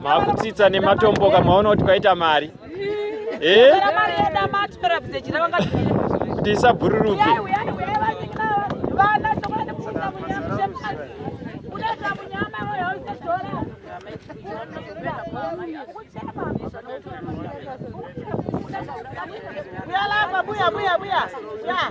Makutsitsa nematomboka maona kuti kwaita mari. Eh? Tisabhururuke. Buya, buya, buya. Yeah.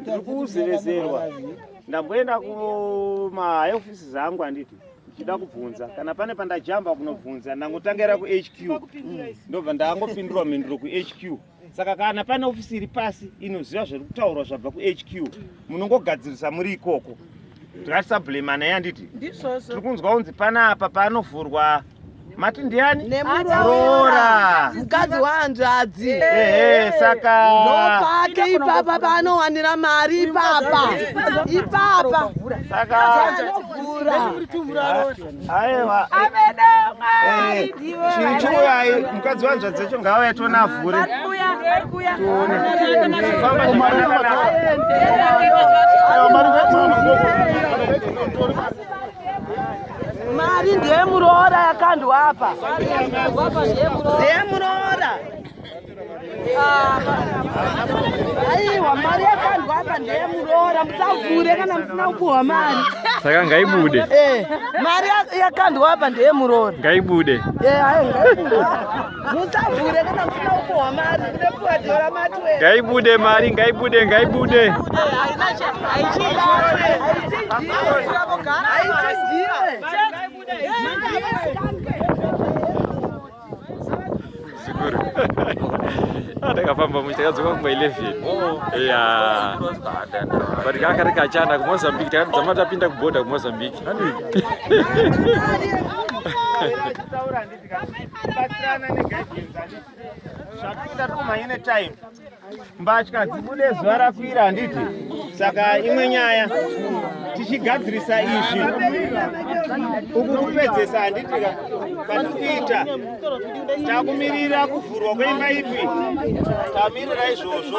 Ndiri kuzevezerwa. Ndamboenda kuma high offices angu handiti ndichida kubvunza kana pane pandajamba kunobvunza ndangotangira kuHQ ndobva ndangopindurwa mhinduro kuHQ saka kana pane ofisi iri pasi inoziva zviri kutaurwa zvabva kuHQ munongogadzirisa muri ikoko. Ndikati sablamana yanditi Ndizvozvo. tiri kunzwa kunzi panapa panovhurwa mati ndiani nemuroora mukadzi wahanzvadzi ehe saka ndopake ipapa paanowanira mari ipapa ipapa saka aiwa chichiuyai mukadzi wanzvadzi yacho ngaauya tiona avhure tione famba zvakanaka Mari ndiye muroora yakandwa apa. Ndiye muroora. Aiwa mari yakandwa apa ndiye muroora musavhure kana musina kupuhwa mari. Saka ngaibude. Eh, mari yakandwa apa ndiye muroora. Ngaibude. Eh, ayi ngaibude. musavhure kana musina kupuhwa mari kude kupuhwa dhio ramatwe ngaibude mari ngaibude ngaibude zikuru atakafamba muchi takadzoka kumba 11 ya but kakari kachanda kumozambique takadzama tapinda kuboda kumozambique kubatsirana neguidance handiti zvakuita tikumhanye netime mbatya dzibude zuva rakwira handiti saka imwe nyaya tichigadzirisa izvi uku kupedzesa handitika kwatikuita takumirira kuvhurwa kweimba ipi tamirira izvozvo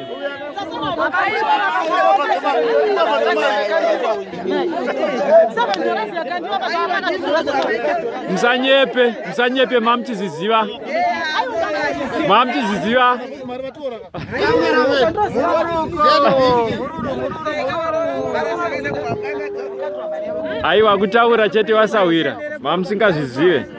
musanyepe musanyepe mamuchiziziva mamuchiziziva aiwa kutaura chete wasahwira mamusingazvizive